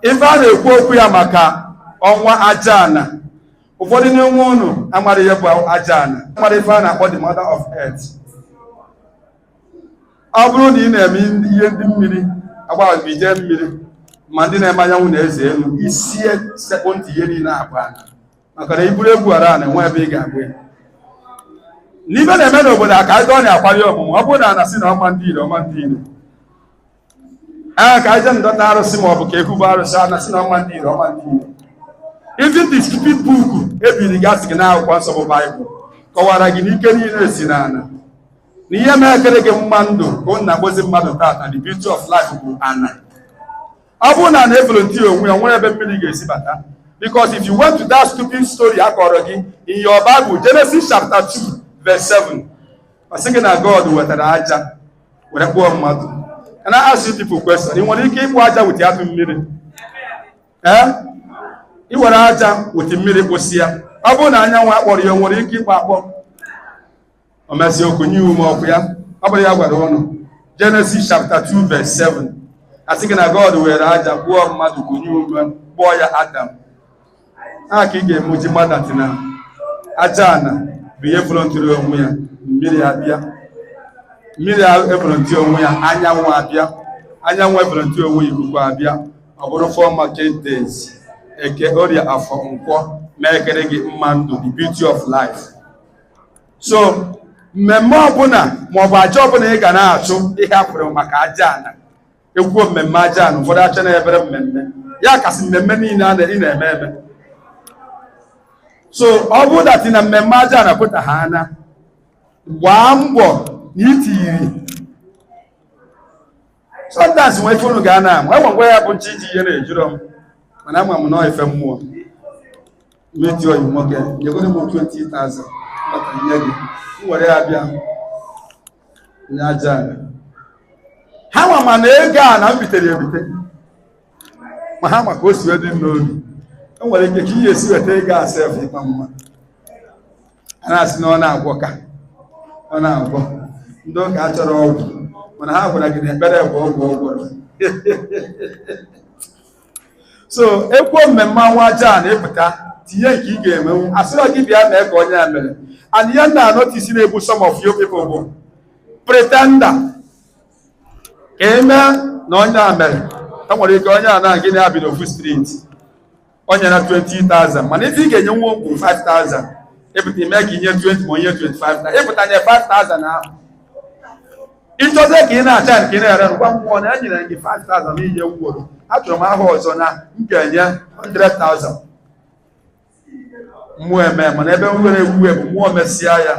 ife a na-ekwu okwu ya maka ọnwa aja ana ụfọdụ n'ime ụnụ amara ihe bụ aja ana mara ife a na-akpọ the mother of earth ọ bụrụ na ị na-eme ihe ndị mmiri agbaghị ije mmiri ma ndị na-eme anyanwụ na eze enu isi sekpụ ntị ihe niile bụ ana maka na iburu egwu hara ana enwe ebe ị ga-agba ya n'ife na-eme n'obodo a ka anyị dọọ na akwari ọmụmụ ọ bụrụ na a na-asị na ọma ndị ire ọma ndị ire a ka aja ndọta arụsị ma ọ bụ ka ekwubu arụsị a na-asị na ọma ndị ire ọma ndị ire even the stupid book ebiri gasị gị n'akwụkwọ nsọ bụ baịbụl kọwara gị na ike niile si n'ana na ihe mere ekere gị mma ndụ ka ụnụ na-akpọzi mmadụ tata the beauty of life bụ ana ọ bụrụ na ana evolunteer onwe ya nwere ebe mmiri ga-esi bata because if you went to that stupid story a kọrọ gị in your Bible Genesis chapter 2 verse 7 ọ sị gị na God wetara aja were kpụọ mmadụ and I ask you people question ị nwere ike ịkpụ aja without mmiri ee ị were aja with mmiri kpụsị ya ọ bụrụ na anyanwụ akpọrọ ya o nwere ike ịkpọ akpọ o mesịa o kunye ume ọ kwa ya ọ bụrọ ihe a gwara ụnụ Genesis chapter 2 verse 7 a sị gị na God were aja kpụọ mmadụ kunye ume kpọọ ya Adam a ka ị ga-eme eji ma that na aja ana bụ ihe volunteer onwe ya mmiri abịa mmiri evolunteer onwe ya anyanwụ abịa anyanwụ evolunteer onwe ya ikuku abịa ọ bụrụ four market days eke orie afọ nkwọ mee ekere gị mma ndụ the beauty of life so mmemme ọbụla maọbụ aja ọbụla ị ga na-achụ ihe e kwuru maka aja ana ekwuo mmemme aja ana ụfọdụ eche na obere mmemme ya kasị mmemme niile a ị na-eme eme so ọ bụrụ that na mmemme aja ana pụta ha anya gbaa mbọ na itiyiri sometimes nwe ife unu ga na-amụ enwe ngwa ya bụ nche iji ihe na-ejiro m mana ama m na ife mmụọ meti ọyị nwoke nyegoro m 20,000 maka nye gị m were ya bịa nye aja ana ha nwa ma na ego a na m bitere ya ebite ma ha ma ka o si wee dị m n'obi e nwere ike ka ihe esi weta ego a sef ịma mma a na-asị na ọ na-agwọ ka ọ na-agwọ ndị ụka achọrọ ọgwụ mana ha gwara gị na ekpere bụ ọgwụ ọ gwọrọ so ekwuo mmemme ọnwa aja ana ịpụta tinye nke ị ga-emenwu asịrọ gị bịa mee ka onye a mere and ihe na anotice na-egbu some of you people bụ pretender ka eme na onye a mere enwere ike onye a na gị na-ebi n'ofu street o nyere 20,000 mana ife ị ga-enyenwu bụ 5,000 ịpụta ime ka inye 20 ma inye 25 na ịpụta nye 5,000 ahụ ịchọzie ka ị na-acha nke ị na-ere ngwa mmụọ na enyere gị 5000 inye nworo achọrọ m aha ọzọ na m ga-enye 100,000 mmụọ eme mana ebe m nwere ewu ebu mmụọ mesịa ya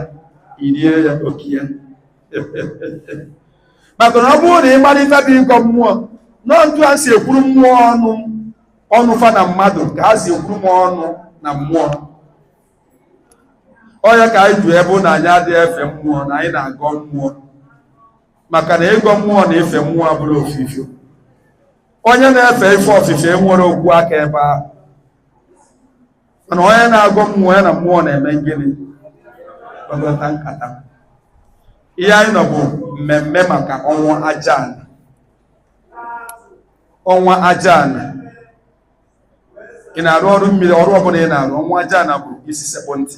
irie ya oke ya maka na ọ bụrụ na ị mara ife bụ ịgọ mmụọ na ọ etu a si ekwuru mmụọ ọnụ ọnụ fa na mmadụ ka a si ekwuru m ọnụ na mmụọ ọ ya ka anyị ji ebe na anyị adịghị efe mmụọ na anyị na-agọ mmụọ maka na ịgọ mmụọ na ife mmụọ abụrọ ofu ife onye na-efe ife ofufe enwerọ okwu aka ebe ahụ mana onye na-agọ mmụọ ya na mmụọ na-eme gịnị kpakọta nkata ihe anyị nọ bụ mmemme maka ọnwa ajana ọnwa ajana ị na-arụ ọrụ mmiri ọrụ ọbụla ị na-arụ ọnwa ajana bụ isi sekpụ ntị